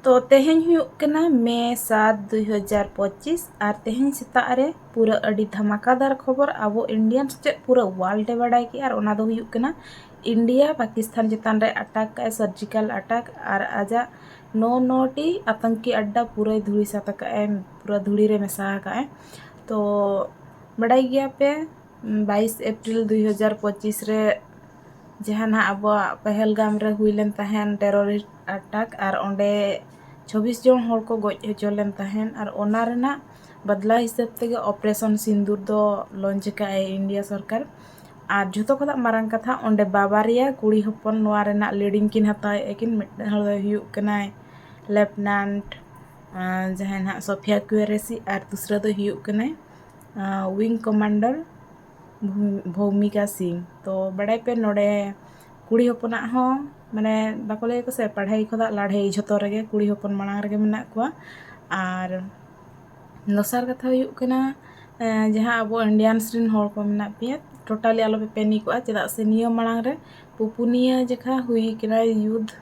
ᱛᱚ ᱛᱮᱦᱮᱧ ᱦᱩᱭᱩᱜ ᱠᱟᱱᱟ ᱢᱮ ᱥᱟᱛ ᱫᱩᱭ ᱦᱟᱡᱟᱨ ᱯᱚᱸᱪᱤᱥ ᱟᱨ ᱛᱮᱦᱮᱧ ᱥᱮᱛᱟᱜ ᱨᱮ ᱯᱩᱨᱟᱹ ᱟᱹᱰᱤ ᱫᱷᱟᱢᱟᱠᱟᱫᱟᱨ ᱠᱷᱚᱵᱚᱨ ᱟᱵᱚ ᱤᱱᱰᱤᱭᱟᱱ ᱥᱮᱪᱮᱫ ᱯᱩᱨᱟᱹ ᱳᱣᱟᱨᱞᱰ ᱮ ᱵᱟᱰᱟᱭ ᱠᱮᱜᱼᱟ ᱟᱨ ᱚᱱᱟ ᱫᱚ ᱦᱩᱭᱩᱜ ᱠᱟᱱᱟ ᱤᱱᱰᱤᱭᱟ ᱯᱟᱠᱤᱥᱛᱷᱟᱱ ᱪᱮᱛᱟᱱ ᱨᱮ ᱟᱴᱟᱠ ᱟᱭ ᱥᱟᱨᱡᱤᱠᱟᱞ ᱟᱴᱟᱠ ᱟᱨ ᱟᱡᱟᱜ ᱱᱚ ᱱᱚ ᱴᱤ ᱟᱛᱚᱝᱠᱤ ᱟᱰᱰᱟ ᱯᱩᱨᱟᱹᱭ ᱫᱷᱩᱲᱤ ᱥᱟᱛ ᱟᱠᱟᱫ ᱟᱭ ᱯᱩᱨᱟᱹ ᱫᱷᱩᱲᱤ ᱨᱮ ᱢᱮᱥᱟ ᱟᱠᱟᱫ ᱟᱭ ᱛᱚ ᱵᱟᱰᱟᱭ ᱜᱮᱭᱟ ᱯᱮ ᱵᱟᱭᱤᱥ ᱮᱯᱨᱤᱞ ᱫᱩᱭ ᱦᱟᱡᱟᱨ ᱯᱚᱸᱪᱤᱥ ᱨᱮ ᱡᱟᱦᱟᱸ ᱱᱟᱦᱟᱸᱜ ᱟᱵᱚᱣᱟᱜ ᱯᱮᱦᱮᱞᱜᱟᱢ ᱨᱮ ᱦᱩᱭ ᱞᱮᱱ ᱛᱟᱦᱮᱱ ᱴᱮᱨᱳᱨᱤᱥᱴ ᱟᱴᱟᱠ ᱟᱨ ᱚᱸᱰᱮ ᱪᱷᱚᱵᱽᱵᱤᱥ ᱡᱚᱱ ᱦᱚᱲ ᱠᱚ ᱜᱚᱡ ᱦᱚᱪᱚ ᱞᱮᱱ ᱛᱟᱦᱮᱸᱫ ᱟᱨ ᱚᱱᱟ ᱨᱮᱱᱟᱜ ᱵᱟᱫᱽᱞᱟ ᱦᱤᱥᱟᱹᱵ ᱛᱮᱜᱮ ᱚᱯᱟᱨᱮᱥᱚᱱ ᱥᱤᱸᱫᱩᱨ ᱫᱚ ᱞᱚᱱᱪ ᱟᱠᱟᱫ ᱟᱭ ᱤᱱᱰᱤᱭᱟ ᱥᱚᱨᱠᱟᱨ ᱟᱨ ᱡᱷᱚᱛᱚ ᱠᱷᱚᱱᱟᱜ ᱢᱟᱨᱟᱝ ᱠᱟᱛᱷᱟ ᱚᱸᱰᱮ ᱵᱟᱵᱟᱨᱭᱟ ᱠᱩᱲᱤ ᱦᱚᱯᱚᱱ ᱱᱚᱣᱟ ᱨᱮᱱᱟᱜ ᱞᱤᱰᱤᱝ ᱠᱤᱱ ᱦᱟᱛᱟᱣᱮᱫ ᱟᱹᱠᱤᱱ ᱢᱤᱫᱴᱟᱱ ᱦᱚᱲ ᱫᱚᱭ ᱦᱩᱭᱩᱜ ᱠᱟᱱᱟᱭ ᱞᱮᱯᱷᱴᱮᱱᱟᱱᱴ ᱡᱟᱦᱟᱸᱭ ᱱᱟᱦᱟᱜ ᱥᱳᱯᱷᱤᱭᱟ ᱠᱩᱨᱮᱥᱤ ᱟᱨ ᱫᱚᱥᱨᱟ ᱫᱚᱭ ᱦᱩᱭᱩᱜ ᱠᱟᱱᱟᱭ ᱩᱭᱤᱝ ᱠᱚᱢᱟᱱᱰᱟᱨ ᱵᱷᱳᱢᱤᱠᱟ ᱥᱤᱝ ᱛᱳ ᱵᱟᱲᱟᱭ ᱯᱮ ᱱᱚᱰᱮ ᱠᱩᱲᱤ ᱦᱚᱯᱚᱱᱟᱜ ᱦᱚᱸ ᱢᱟᱱᱮ ᱵᱟᱠᱚ ᱞᱟᱹᱭᱟᱠᱚ ᱥᱮ ᱯᱟᱲᱦᱟᱭ ᱠᱷᱚᱱᱟᱜ ᱞᱟᱲᱦᱟᱹᱭ ᱡᱷᱚᱛᱚ ᱨᱮᱜᱮ ᱠᱩᱲᱤ ᱦᱚᱯᱚᱱ ᱢᱟᱲᱟᱝ ᱨᱮᱜᱮ ᱢᱮᱱᱟᱜ ᱠᱚᱣᱟ ᱟᱨ ᱫᱚᱥᱟᱨ ᱠᱟᱛᱷᱟ ᱦᱩᱭᱩᱜ ᱠᱟᱱᱟ ᱡᱟᱦᱟᱸ ᱟᱵᱚ ᱤᱱᱰᱤᱭᱟᱱᱥ ᱨᱮᱱ ᱦᱚᱲ ᱠᱚ ᱢᱮᱱᱟᱜ ᱯᱮᱭᱟ ᱴᱳᱴᱟᱞᱤ ᱟᱞᱚ ᱯᱮ ᱯᱮᱱᱤᱠᱚᱜᱼᱟ ᱪᱮᱫᱟᱜ ᱥᱮ ᱱᱤᱭᱟᱹ ᱢᱟᱲᱟᱝ ᱨᱮ ᱯᱩᱯᱩᱱᱤᱭᱟᱹ ᱡᱚᱠᱷᱟ ᱦᱩᱭ ᱠᱟᱱᱟ ᱭᱩᱫᱷ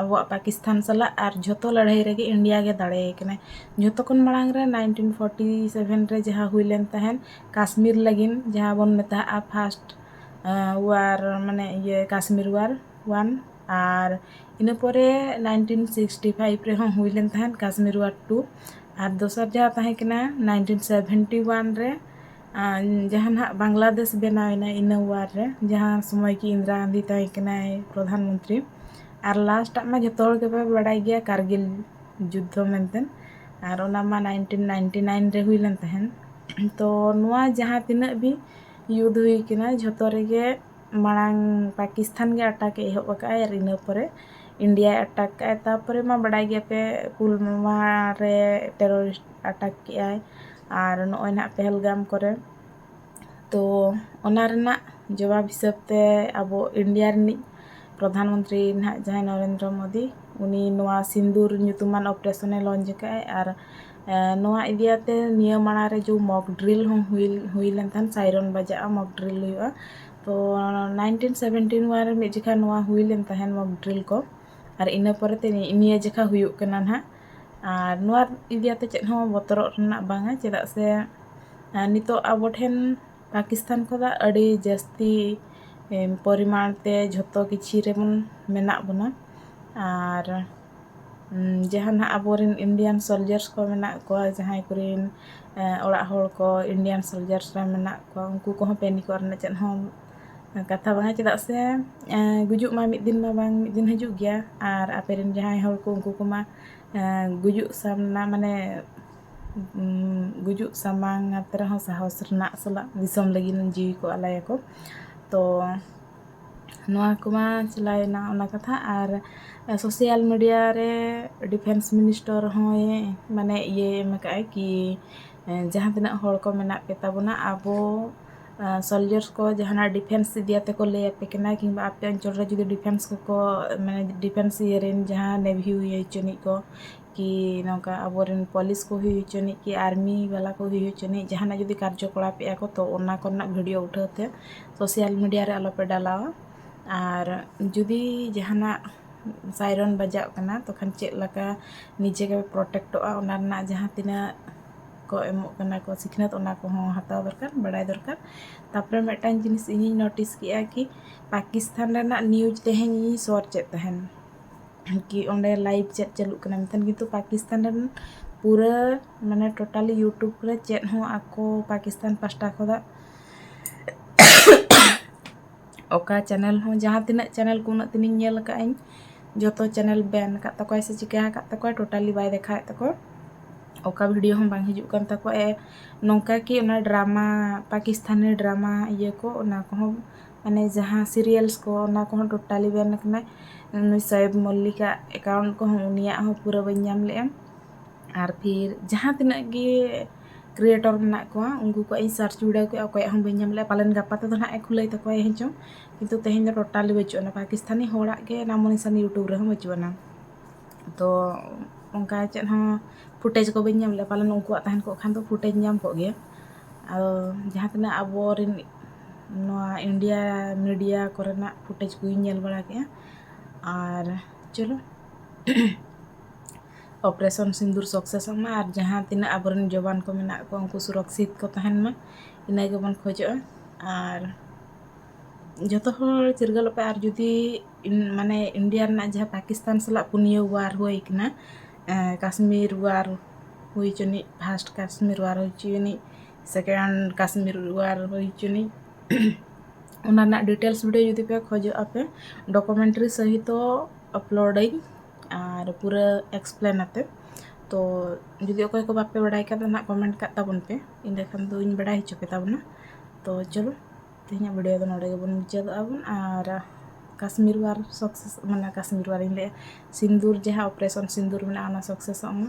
ᱟᱵᱚᱣᱟᱜ ᱯᱟᱠᱤᱥᱛᱟᱱ ᱥᱟᱞᱟᱜ ᱟᱨ ᱡᱷᱚᱛᱚ ᱞᱟᱹᱲᱦᱟᱹᱭ ᱨᱮᱜᱮ ᱤᱱᱰᱤᱭᱟ ᱜᱮ ᱫᱟᱲᱮᱭ ᱠᱟᱱᱟᱭ ᱡᱷᱚᱛᱚ ᱠᱷᱚᱱ ᱢᱟᱲᱟᱝ ᱨᱮ ᱱᱟᱭᱤᱱᱴᱤᱱ ᱯᱷᱳᱨᱴᱤ ᱥᱮᱵᱷᱮᱱ ᱨᱮ ᱡᱟᱦᱟᱸ ᱦᱩᱭ ᱞᱮᱱ ᱛᱟᱦᱮᱸᱫ ᱠᱟᱥᱢᱤᱨ ᱞᱟᱹᱜᱤᱫ ᱡᱟᱦᱟᱸ ᱵᱚᱱ ᱢᱮᱛᱟᱜᱼᱟ ᱯᱷᱟᱥᱴ ᱚᱣᱟᱨ ᱢᱟᱱᱮ ᱤᱭᱟᱹ ᱠᱟᱥᱢᱤᱨ ᱚᱣᱟᱨ ᱚᱣᱟᱱ ᱟᱨ ᱤᱱᱟᱹ ᱯᱚᱨᱮ ᱱᱟᱭᱤᱱᱴᱤᱱ ᱥᱤᱠᱥᱴᱤ ᱯᱷᱟᱭᱤᱵᱷ ᱨᱮᱦᱚᱸ ᱦᱩᱭ ᱞᱮᱱ ᱛᱟᱦᱮᱸᱫ ᱠᱟᱥᱢᱤᱨ ᱚᱣᱟᱨ ᱴᱩ ᱟᱨ ᱫᱚᱥᱟᱨ ᱡᱟᱦᱟᱸ ᱛᱟᱦᱮᱸ ᱠᱟᱱᱟ ᱱᱟᱭᱤᱱᱴᱤᱱ ᱥᱮᱵᱷᱮᱱᱴᱤ ᱚᱣᱟᱱ ᱨᱮ ᱡᱟᱦᱟᱸ ᱱᱟᱦᱟᱜ ᱵᱟᱝᱞᱟᱫᱮᱥ ᱵᱮᱱᱟᱣ ᱮᱱᱟ ᱤᱱᱟᱹ ᱚᱣᱟᱨ ᱨᱮ ᱡᱟᱦᱟᱸ ᱥᱚᱢᱚᱭ ᱠᱤ ᱤᱱᱫᱤᱨᱟ ᱜᱟᱱᱫᱷᱤ ᱛᱟᱦᱮᱸ ᱠᱟᱱᱟᱭ ᱯᱨᱚᱫᱷᱟᱱ ᱢᱚᱱᱛᱨᱤ ᱟᱨ ᱞᱟᱥᱴ ᱟᱜ ᱢᱟ ᱡᱚᱛᱚ ᱦᱚᱲ ᱜᱮᱯᱮ ᱵᱟᱲᱟᱭ ᱜᱮᱭᱟ ᱠᱟᱨᱜᱤᱞ ᱡᱩᱫᱽᱫᱷᱚ ᱢᱮᱱᱛᱮ ᱟᱨ ᱚᱱᱟ ᱢᱟ ᱱᱟᱭᱤᱱᱴᱤᱱ ᱱᱟᱭᱤᱱᱴᱤ ᱱᱟᱭᱤᱱ ᱨᱮ ᱦᱩᱭ ᱞᱮᱱ ᱛᱟᱦᱮᱸᱫ ᱛᱚ ᱱᱚᱣᱟ ᱡᱟᱦᱟᱸ ᱛᱤᱱᱟᱹᱜ ᱜᱮ ᱡᱩᱫᱽ ᱦᱩᱭ ᱠᱟᱱᱟ ᱡᱷᱚᱛᱚ ᱨᱮᱜᱮ ᱢᱟᱲᱟᱝ ᱯᱟᱠᱤᱥᱛᱷᱟᱱ ᱜᱮ ᱟᱴᱟᱠᱮ ᱮᱦᱚᱵ ᱟᱠᱟᱫᱼᱟᱭ ᱟᱨ ᱤᱱᱟᱹ ᱯᱚᱨᱮ ᱤᱱᱰᱤᱭᱟᱭ ᱟᱴᱟᱠ ᱠᱮᱫᱼᱟᱭ ᱛᱟᱨᱯᱚᱨᱮ ᱢᱟ ᱵᱟᱰᱟᱭ ᱜᱮᱭᱟ ᱯᱮ ᱯᱩᱞᱣᱟᱢᱟ ᱨᱮ ᱴᱮᱨᱚᱨᱤᱥᱴ ᱟᱴᱟᱠ ᱠᱮᱫᱼᱟᱭ ᱟᱨ ᱱᱚᱜᱼᱚᱭ ᱱᱟᱦᱟᱜ ᱯᱮᱦᱮᱞᱜᱟᱢ ᱠᱚᱨᱮ ᱛᱳ ᱚᱱᱟ ᱨᱮᱱᱟᱜ ᱡᱚᱵᱟᱵᱽ ᱦᱤᱥᱟᱹᱵᱽ ᱛᱮ ᱟᱵᱚ ᱤᱱᱰᱤᱭᱟ ᱨᱤᱱᱤᱡ ᱯᱨᱚᱫᱷᱟᱱ ᱢᱚᱱᱛᱨᱤ ᱱᱟᱦᱟᱜ ᱡᱟᱦᱟᱸᱭ ᱱᱚᱨᱮᱱᱫᱨᱚ ᱢᱳᱫᱤ ᱩᱱᱤ ᱱᱚᱣᱟ ᱥᱤᱸᱫᱩᱨ ᱧᱩᱛᱩᱢᱟᱱ ᱚᱯᱟᱨᱮᱥᱚᱱᱮ ᱞᱚᱱᱪ ᱟᱠᱟᱫᱼᱟᱭ ᱟᱨ ᱱᱚᱣᱟ ᱤᱫᱤᱭᱟᱛᱮ ᱱᱤᱭᱟᱹ ᱢᱟᱲᱟᱝ ᱨᱮ ᱡᱮ ᱢᱚᱠ ᱰᱨᱤᱞ ᱦᱚᱸ ᱦᱩᱭ ᱦᱩᱭ ᱞᱮᱱ ᱛᱟᱦᱮᱱ ᱥᱟᱭᱨᱚᱱ ᱵᱟᱡᱟᱜᱼᱟ ᱢᱚᱠ ᱰᱨᱤᱞ ᱦᱩᱭᱩᱜᱼᱟ ᱛᱚ ᱱᱟᱭᱤᱱᱴᱤᱱ ᱥᱮᱵᱷᱮᱱᱴᱤᱱ ᱚᱣᱟᱱ ᱨᱮ ᱢᱤᱫ ᱡᱚᱠᱷᱟᱱ ᱱᱚᱣᱟ ᱦᱩᱭ ᱞᱮᱱ ᱛᱟᱦᱮᱱ ᱢᱚᱠ ᱰᱨᱤᱞ ᱠᱚ ᱟᱨ ᱤᱱᱟᱹ ᱯᱚᱨᱮ ᱛᱮ ᱱᱤᱭᱟᱹ ᱡᱚᱠᱷᱟ ᱦᱩᱭᱩᱜ ᱠᱟᱱᱟ ᱱᱟᱜ ᱟᱨ ᱱᱚᱣᱟ ᱤᱫᱤᱭᱟᱛᱮ ᱪᱮᱫ ᱦᱚᱸ ᱵᱚᱛᱚᱨᱚᱜ ᱨᱮᱱᱟᱜ ᱵᱟᱝᱟ ᱪᱮᱫᱟᱜ ᱥᱮ ᱱᱤᱛᱳᱜ ᱟᱵᱚ ᱴᱷᱮᱱ ᱯᱟᱠᱤᱥᱛᱟᱱ ᱠᱷᱚᱱᱟᱜ ᱟᱹᱰᱤ ᱡᱟᱹᱥᱛᱤ ᱯᱚᱨᱤᱢᱟᱬ ᱛᱮ ᱡᱷᱚᱛᱚ ᱠᱤᱪᱷᱩ ᱨᱮᱵᱚᱱ ᱢᱮᱱᱟᱜ ᱵᱚᱱᱟ ᱟᱨ ᱡᱟᱦᱟᱸ ᱱᱟᱦᱟᱜ ᱟᱵᱚᱨᱮᱱ ᱤᱱᱰᱤᱭᱟᱱ ᱥᱳᱞᱡᱟᱨᱥ ᱠᱚ ᱢᱮᱱᱟᱜ ᱠᱚᱣᱟ ᱡᱟᱦᱟᱸᱭ ᱠᱚᱨᱮᱱ ᱚᱲᱟᱜ ᱦᱚᱲ ᱠᱚ ᱤᱱᱰᱤᱭᱟᱱ ᱥᱳᱞᱡᱟᱨᱥ ᱨᱮ ᱢᱮᱱᱟᱜ ᱠᱚᱣᱟ ᱩᱱᱠᱩ ᱠᱚᱦᱚᱸ ᱯᱮᱱᱤᱠ ᱚᱜ ᱨᱮᱱᱟᱜ ᱪᱮᱫ ᱦᱚᱸ ᱠᱟᱛᱷᱟ ᱵᱟᱝᱟ ᱪᱮᱫᱟᱜ ᱥᱮ ᱜᱩᱡᱩᱜ ᱢᱟ ᱢᱤᱫ ᱫᱤᱱ ᱢᱟ ᱵᱟᱝ ᱢᱤᱫ ᱫᱤᱱ ᱦᱤᱡᱩᱜ ᱜᱮᱭᱟ ᱟᱨ ᱟᱯᱮ ᱨᱮᱱ ᱡᱟᱦᱟᱸᱭ ᱦᱚᱲ ᱠᱚ ᱩᱱᱠᱩ ᱠᱚᱢᱟ ᱜᱩᱡᱩᱜ ᱥᱟᱢᱱᱟ ᱢᱟᱱᱮ ᱜᱩᱡᱩᱜ ᱥᱟᱢᱟᱝ ᱟᱛᱮ ᱨᱮᱦᱚᱸ ᱥᱟᱦᱚᱥ ᱨᱮᱱᱟᱜ ᱥᱟᱞᱟᱜ ᱫᱤᱥᱚᱢ ᱞᱟᱹᱜᱤᱫ ᱡᱤᱣᱤ ᱠᱚ ᱟᱞᱟᱭᱟᱠᱚ ᱛᱚ ᱱᱚᱣᱟ ᱠᱚᱢᱟ ᱪᱟᱞᱟᱣᱮᱱᱟ ᱚᱱᱟ ᱠᱟᱛᱷᱟ ᱟᱨ ᱥᱳᱥᱟᱞ ᱢᱤᱰᱤᱭᱟ ᱨᱮ ᱰᱤᱯᱷᱮᱱᱥ ᱢᱤᱱᱤᱥᱴᱚᱨ ᱦᱚᱸᱭ ᱢᱟᱱᱮ ᱤᱭᱟᱹᱭ ᱮᱢ ᱠᱟᱜᱼᱟᱭ ᱠᱤ ᱡᱟᱦᱟᱸ ᱛᱤᱱᱟᱹᱜ ᱦᱚᱲ ᱠᱚ ᱢᱮᱱᱟᱜ ᱯᱮ ᱛᱟᱵᱚᱱᱟ ᱟᱵᱚ ᱥᱳᱞᱡᱟᱨᱥ ᱠᱚ ᱡᱟᱦᱟᱱᱟᱜ ᱰᱤᱯᱷᱮᱱᱥ ᱤᱫᱤ ᱠᱟᱛᱮ ᱠᱚ ᱞᱟᱹᱭ ᱟᱯᱮ ᱠᱟᱱᱟ ᱠᱤᱢᱵᱟ ᱟᱯᱮ ᱚᱧᱪᱚᱞ ᱨᱮ ᱡᱩᱫᱤ ᱰᱤᱯᱷᱮᱱᱥ ᱠᱚᱠᱚ ᱢᱟᱱᱮ ᱰᱤᱯᱷᱮᱱᱥ ᱤᱭᱟᱹ ᱨᱮᱱ ᱡᱟᱦᱟᱸ ᱱᱮᱵᱷᱤ ᱦᱩᱭ ᱦᱚᱪᱚᱱᱤᱡ ᱠᱚ ᱠᱤ ᱱᱚᱝᱠᱟ ᱟᱵᱚᱨᱮᱱ ᱯᱩᱞᱤᱥ ᱠᱚ ᱦᱩᱭ ᱦᱚᱪᱚᱱᱤᱡ ᱠᱤ ᱟᱨᱢᱤ ᱵᱟᱞᱟ ᱠᱚ ᱦᱩᱭ ᱦᱚᱪᱚᱱᱤᱡ ᱡᱟᱦᱟᱱᱟᱜ ᱡᱩᱫᱤ ᱠᱟᱨᱡᱚ ᱠᱚᱞᱟᱯ ᱮᱫᱟ ᱠᱚ ᱛᱚ ᱚᱱᱟ ᱠᱚᱨᱮᱱᱟᱜ ᱵᱷᱤᱰᱤᱭᱳ ᱩᱴᱷᱟᱹᱣ ᱛᱮ ᱥᱳᱥᱟᱞ ᱢᱤᱰᱤᱭᱟ ᱨᱮ ᱟᱞᱚᱯᱮ ᱰᱟᱞᱟᱣᱟ ᱟᱨ ᱡᱩᱫᱤ ᱡᱟᱦᱟᱱᱟᱜ ᱥᱟᱭᱨᱚᱱ ᱵᱟᱡᱟᱜ ᱠᱟᱱᱟ ᱛᱚᱠᱷᱚᱱ ᱪᱮᱫ ᱞᱮᱠᱟ ᱱᱤᱡᱮ ᱜᱮᱯᱮ ᱯᱨᱚᱴᱮᱠᱴᱚᱜᱼᱟ ᱚᱱᱟ ᱨᱮᱱᱟᱜ ᱡᱟᱦᱟᱸ ᱛᱤᱱᱟᱹᱜ ᱠᱚ ᱮᱢᱚᱜ ᱠᱟᱱᱟ ᱠᱚ ᱥᱤᱠᱷᱱᱟᱹᱛ ᱚᱱᱟ ᱠᱚᱦᱚᱸ ᱦᱟᱛᱟᱣ ᱫᱚᱨᱠᱟᱨ ᱵᱟᱲᱟᱭ ᱫᱚᱨᱠᱟᱨ ᱛᱟᱨᱯᱚᱨᱮ ᱢᱤᱫᱴᱟᱱ ᱡᱤᱱᱤᱥ ᱤᱧᱤᱧ ᱱᱳᱴᱤᱥ ᱠᱮᱫᱟ ᱠᱤ ᱯᱟᱠᱤᱥᱛᱟᱱ ᱨᱮᱱᱟᱜ ᱱᱤᱭᱩᱡᱽ ᱛᱮᱦᱮᱧ ᱤᱧᱤᱧ ᱥᱟᱨᱪ ᱮᱫ ᱛᱟᱦᱮᱱ ᱠᱤ ᱚᱸᱰᱮ ᱞᱟᱭᱤᱵᱷ ᱪᱮᱫ ᱪᱟᱹᱞᱩᱜ ᱠᱟᱱᱟ ᱢᱮᱱᱠᱷᱟᱱ ᱠᱤᱱᱛᱩ ᱯᱟᱠᱤᱥᱛᱟᱱ ᱨᱮᱱ ᱯᱩᱨᱟᱹ ᱢᱟᱱᱮ ᱴᱳᱴᱟᱞᱤ ᱤᱭᱩᱴᱩᱵᱽ ᱨᱮ ᱪᱮᱫ ᱦᱚᱸ ᱟᱠᱚ ᱯᱟᱠᱤᱥᱛᱟᱱ ᱯᱟᱥᱴᱟ ᱠᱷᱚᱱᱟᱜ ᱚᱠᱟ ᱪᱮᱱᱮᱞ ᱦᱚᱸ ᱡᱟᱦᱟᱸ ᱛᱤᱱᱟᱹᱜ ᱪᱮᱱᱮᱞ ᱠᱚ ᱩᱱᱟᱹᱜ ᱫᱤᱱᱤᱧ ᱧᱮᱞ ᱟᱠᱟᱫ ᱟᱹᱧ ᱡᱚᱛᱚ ᱪᱮᱱᱮᱞ ᱵᱮᱱ ᱟᱠᱟᱫ ᱛᱟᱠᱚᱣᱟᱭ ᱥᱮ ᱪᱤᱠᱟᱹ ᱟᱠᱟᱫ ᱛᱟᱠᱚᱣᱟᱭ ᱴᱳᱴᱟᱞᱤ ᱵᱟᱭ ᱫᱮᱠᱷᱟᱣᱮᱫ ᱛᱟᱠᱚᱣᱟ ᱚᱠᱟ ᱵᱷᱤᱰᱤᱭᱳ ᱦᱚᱸ ᱵᱟᱝ ᱦᱤᱡᱩᱜ ᱠᱟᱱ ᱛᱟᱠᱚᱣᱟ ᱮ ᱱᱚᱝᱠᱟ ᱠᱤ ᱚᱱᱟ ᱰᱨᱟᱢᱟ ᱯᱟᱠᱤᱥᱛᱟᱱᱤ ᱰᱨᱟᱢᱟ ᱤᱭᱟᱹ ᱠᱚ ᱚᱱᱟ ᱠᱚᱦᱚᱸ ᱢᱟᱱᱮ ᱡᱟᱦᱟᱸ ᱥᱤᱨᱤᱭᱟᱞᱥ ᱠᱚ ᱚᱱᱟ ᱠᱚᱦᱚᱸ ᱴᱳᱴᱟᱞᱤ ᱵᱮᱱ ᱠᱟᱱᱟᱭ ᱩᱱᱤ ᱥᱳᱭᱮᱵᱽ ᱢᱚᱞᱞᱤᱠ ᱟᱜ ᱮᱠᱟᱣᱩᱱᱴ ᱠᱚᱦᱚᱸ ᱩᱱᱤᱭᱟᱜ ᱦᱚᱸ ᱯᱩᱨᱟᱹ ᱵᱟᱹᱧ ᱧᱟᱢ ᱞᱮᱜᱼᱟ ᱟᱨ ᱯᱷᱤᱨ ᱡᱟᱦᱟᱸ ᱛᱤᱱᱟᱹᱜ ᱜᱮ ᱠᱨᱤᱭᱮᱴᱚᱨ ᱢᱮᱱᱟᱜ ᱠᱚᱣᱟ ᱩᱱᱠᱩ ᱠᱚᱣᱟᱜ ᱤᱧ ᱥᱟᱨᱪ ᱵᱤᱰᱟᱹᱣ ᱠᱮᱜᱼᱟ ᱚᱠᱚᱭᱟᱜ ᱦᱚᱸ ᱵᱟᱹᱧ ᱧᱟᱢ ᱞᱮᱜᱼᱟ ᱯᱟᱞᱮᱱ ᱜᱟᱯᱟ ᱛᱮᱫᱚ ᱦᱟᱸᱜ ᱮ ᱠᱷᱩᱞᱟᱹᱣ ᱛᱟᱠᱚᱣᱟᱭ ᱦᱮᱸ ᱪᱚᱝ ᱠᱤᱱᱛᱩ ᱛᱮᱦᱮᱧ ᱫᱚ ᱴᱳᱴᱟᱞᱤ ᱵᱟᱹᱪᱩᱜ ᱟᱱᱟ ᱯᱟᱠᱤᱥᱛᱟᱱᱤ ᱦᱚᱲᱟᱜ ᱜᱮ ᱱᱟᱢᱳ ᱱᱤᱥᱟᱱ ᱤᱭᱩᱴᱩᱵᱽ ᱨᱮᱦᱚᱸ ᱵᱟᱹᱪᱩᱜ ᱟᱱᱟ ᱛᱚ ᱚᱱᱠᱟ ᱪᱮᱫ ᱦᱚᱸ ᱯᱷᱩᱴᱮᱡᱽ ᱠᱚ ᱵᱟᱹᱧ ᱧᱟᱢ ᱞᱮᱜᱼᱟ ᱯᱟᱞᱮᱱ ᱩᱱᱠᱩᱣᱟᱜ ᱛᱟᱦᱮᱱ ᱠᱚᱜ ᱠᱷᱟᱱ ᱫᱚ ᱯᱷᱩᱴᱮᱡᱽ ᱧᱟᱢ ᱠᱚᱜ ᱜᱮᱭᱟ ᱟᱫᱚ ᱡᱟᱦᱟᱸ ᱛᱤᱱᱟᱹᱜ ᱟᱵᱚ ᱨᱮᱱ ᱱᱚᱣᱟ ᱤᱱᱰᱤᱭᱟ ᱢᱤᱰᱤᱭᱟ ᱠᱚᱨᱮᱱᱟᱜ ᱯᱷᱩᱴᱮᱡᱽ ᱠᱚᱧ ᱧᱮᱞ ᱵᱟᱲᱟ ᱠᱮᱫᱼᱟ ᱟᱨ ᱪᱚᱞᱚ ᱚᱯᱟᱨᱮᱥᱚᱱ ᱥᱤᱸᱫᱩᱨ ᱥᱟᱠᱥᱮᱥᱚᱜ ᱢᱟ ᱟᱨ ᱡᱟᱦᱟᱸ ᱛᱤᱱᱟᱹᱜ ᱟᱵᱚ ᱨᱮᱱ ᱡᱚᱣᱟᱱ ᱠᱚ ᱢᱮᱱᱟᱜ ᱠᱚᱣᱟ ᱩᱱᱠᱩ ᱥᱩᱨᱚᱠᱠᱷᱤᱛ ᱠᱚ ᱛᱟᱦᱮᱱ ᱢᱟ ᱤᱱᱟᱹ ᱜᱮᱵᱚᱱ ᱠᱷᱚᱡᱚᱜᱼᱟ ᱟᱨ ᱡᱚᱛᱚ ᱦᱚᱲ ᱪᱤᱨᱜᱟᱹᱞᱚᱜ ᱯᱮ ᱟᱨ ᱡᱩᱫᱤ ᱢᱟᱱᱮ ᱤᱱᱰᱤᱭᱟ ᱨᱮᱱᱟᱜ ᱡᱟᱦᱟᱸ ᱯᱟᱠᱤᱥᱛᱟᱱ ᱥᱟᱞᱟᱜ ᱯᱩᱱᱭᱟᱹ ᱚᱣᱟᱨ ᱦᱩᱭ ᱠᱟᱱᱟ ᱠᱟᱥᱢᱤᱨ ᱚᱣᱟᱨ ᱦᱩᱭ ᱦᱚᱪᱚᱱᱤᱡ ᱯᱷᱟᱥᱴ ᱠᱟᱥᱢᱤᱨ ᱚᱣᱟᱨ ᱦᱩᱭ ᱦᱚᱪᱚᱱᱤᱡ ᱥᱮᱠᱮᱱᱰ ᱠᱟᱥᱢᱤᱨ ᱚᱣᱟᱨ ᱦᱩᱭ ᱦᱚᱪᱚᱱᱤᱡ ᱚᱱᱟ ᱨᱮᱱᱟᱜ ᱰᱤᱴᱮᱞᱥ ᱵᱷᱤᱰᱭᱳ ᱡᱩᱫᱤ ᱯᱮ ᱠᱷᱚᱡᱚᱜᱼᱟ ᱯᱮ ᱰᱚᱠᱩᱢᱮᱱᱴᱟᱨᱤ ᱥᱚᱦᱤᱛᱚ ᱟᱯᱞᱳᱰ ᱟᱹᱧ ᱟᱨ ᱯᱩᱨᱟᱹ ᱮᱠᱥᱯᱞᱮᱱ ᱟᱛᱮ ᱛᱚ ᱡᱩᱫᱤ ᱚᱠᱚᱭ ᱠᱚ ᱵᱟᱯᱮ ᱵᱟᱲᱟᱭ ᱠᱷᱟᱱ ᱫᱚ ᱱᱟᱜ ᱠᱚᱢᱮᱱᱴ ᱠᱟᱜ ᱛᱟᱵᱚᱱ ᱯᱮ ᱤᱱᱟᱹᱠᱷᱟᱱ ᱫᱚᱧ ᱵᱟᱲᱟᱭ ᱦᱚᱪᱚ ᱯᱮ ᱛᱟᱵᱚᱱᱟ ᱛᱚ ᱪᱚᱞᱚ ᱛᱮᱦᱮᱧᱟᱜ ᱵᱷᱤᱰᱭᱳ ᱫᱚ ᱱᱚᱰᱮ ᱜᱮᱵᱚᱱ ᱢᱩᱪᱟᱹᱫᱚᱜᱼᱟ ᱵᱚᱱ ᱟᱨ ᱠᱟᱥᱢᱤᱨ ᱣᱟᱨ ᱥᱚᱠᱥᱮᱥ ᱢᱟᱱᱮ ᱠᱟᱥᱢᱤᱨ ᱣᱟᱨᱤᱧ ᱞᱟᱹᱭᱟ ᱥᱤᱸᱫᱩᱨ ᱡᱟᱦᱟᱸ ᱚᱯᱟᱨᱮᱥᱚᱱ ᱥᱤᱸᱫᱩᱨ ᱢᱮᱱᱟᱜᱼᱟ ᱚᱱᱟ ᱥᱚᱠᱥᱮᱥᱚᱜ ᱢᱟ